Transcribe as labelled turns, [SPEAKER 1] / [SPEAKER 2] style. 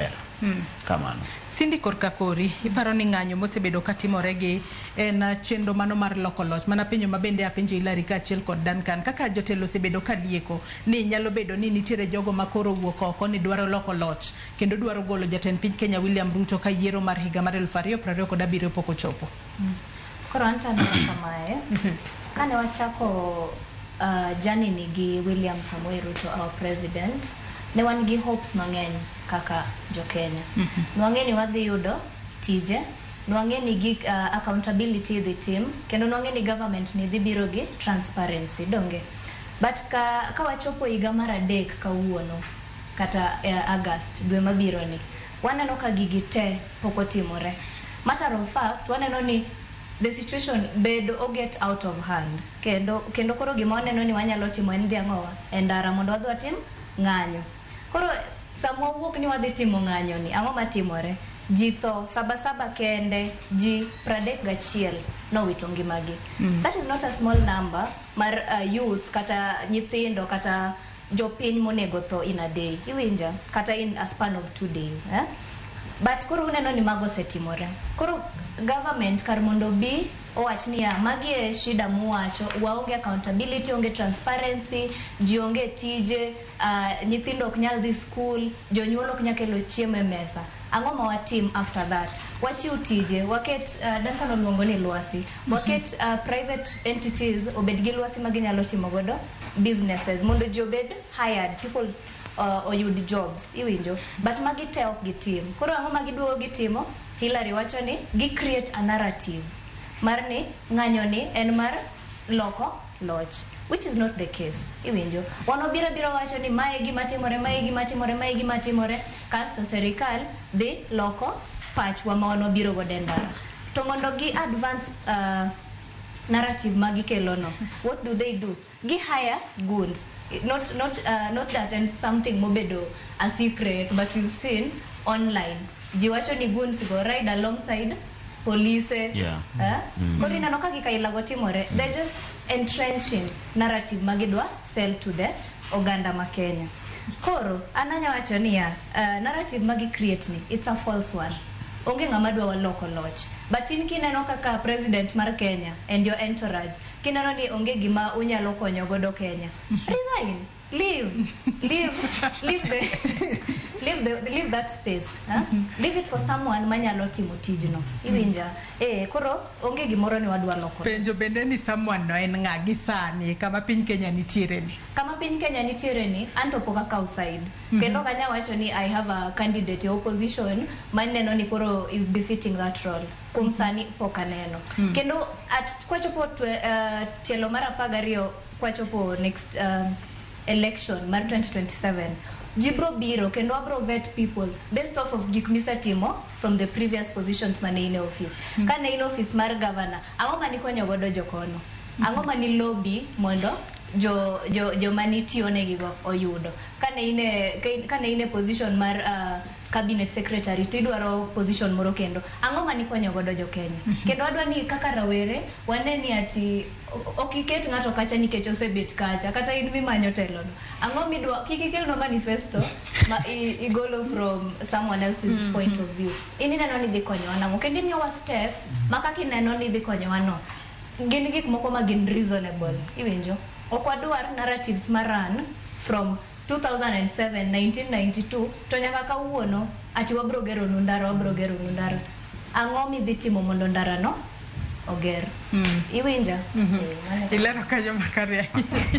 [SPEAKER 1] ber hmm. kamano. Cindy
[SPEAKER 2] korka kori iparo ni ng'anyo mosebedo ka timore gi en chenro mano mar loko loch mana penyo ma bende apenjo Hilary kaachiel kod Duncan kaka jotelo osebedo ka lieko ni nyalo bedo ni nitiere jogo ma koro wuok oko ni dwaro loko loch kendo dwaro golo jatend piny Kenya William Ruto ka yiero mar higa mar 2027 pok ochopo. Koro
[SPEAKER 3] anto aneno kamae, kane wachako uh, journey ni gi William Samoei Ruto our president, ne wan gi hopes mang'eny kaka jo Kenya. Ne wang'e ni wadhi yudo tije, ne wang'e ni gig, uh, accountability idhi tim, kendo ne wang'e ni government ni dhi biro gi transparency, donge? But ka, ka wachopo higa mar adek kawuono, kata uh, August, dwe mabiro ni, Waneno ka gigi te pok otimore. Matter of fact waneno ni the situation bedo o get out of hand kendo kendo koro gima waneno ni wanyalo timo en dhi ang'owa e ndara mondo wadhi watim ng'anyo. Koro sama wawuok ni wadhi timo ng'anyo ni ang'o matimore? Ji tho, saba saba kende ji pradek gachiel nowito ngimagi. That is not a small number mar youths kata nyithindo kata Jopiny monego tho in a day, iwinja? Kata in a span of two days, eh? But koro uneno ni mago osetimore. Koro government kar mondo obi owach ni ya, magi e shida muwacho, waonge accountability, onge transparency, ji onge tije, uh, nyithindo ok nyal dhi school, jonyuol ok nyal kelo chiemo e mesa. Ang'o ma watim after that? Wachiw tije, waket, uh, Duncan oluongo ni lwasi. Waket private entities obed gi lwasi ma ginyalo timo godo businesses mondo ji obed hired, people oyud jobs iwinjo but magi te ok gitim. Koro ang'o ma giduogo gitimo? Hillary wacho ni gi create a narrative mar ni ng'anyo ni en mar loko loch which is not the case iwinjo. Wan wabiro abira wacho ni mae e gima timore, mae e gima timore, mae e gima timore. Kasto serikal dhi loko pachwa ma wan wabiro godo e ndara. To mondo gi advance narrative ma gikelo no, what do they do? Gi hire goons. Not not not that en something mobedo a secret but we've seen online. Ji wacho ni goons go ride alongside polise. Yeah. Koro ineno ka gik aila go timore. They're just entrenching narrative ma gidwa sell to the. oganda ma Kenya. Koro an anya wacho niya, uh, narrative ma gi create ni it's a false one. Onge ng'ama dwa waloko loch. But in kineno kaka president mar Kenya and your entourage, kineno ni onge gima unyalo konyo godo Kenya. Resign. Leave. Leave. Leave the leave the leave that space. Huh? Leave it for someone manyalo timo tijno. Iwinja? Eh, koro Onge gimoro ni wadwa loko loch. Penjo bende ni someone
[SPEAKER 2] no en ng'a gi sani kama piny Kenya nitiere ni. Kama piny Kenya nitiere
[SPEAKER 3] ni anto pok akaw side. Kendo ok anya wacho ni I have a candidate e opposition ma neno ni koro is befitting that role. Kuom sani pok aneno. Kendo at kwachopo twe, uh, tielo mar apar gariyo kwachopo next uh, election mar 2027 ji bro biro kendo wabro vet people based off of gik misetimo from the previous positions mane in e office mm. kane in office mar governor ang'o mani konyo godo jokono mm. ang'o mani lobby mondo jo jo jo mani tiyo ne gigo oyudo kane in e kane in e position mar uh, cabinet secretary to idwaro position moro kendo ang'o mani konyo godo jo Kenya mm-hmm. kendo adwa ni kaka rawere wane ni ati Ok iket ng'ato kacha nikech osebet kacha kata in mimanyo telono. Ang'o midwa kik ikelnwa manifesto ma i- igolo from someone else's point of view. In ineno ni dhi konyowa nang'o kendo imiyowa steps ma kaka ineno ni dhi konyowa no. Gin gik moko ma gin reasonable. Iwinjo? Ok wadwar narratives ma run from 2007, 1992 to nyaka kawuono ati wabro geronu ndara, wabro geronu ndara. Ang'o midhi timo mondo ndara no oger? Iwinja?
[SPEAKER 2] Eh,
[SPEAKER 3] mano e- Ilero
[SPEAKER 2] kanyo makare
[SPEAKER 3] ahinya.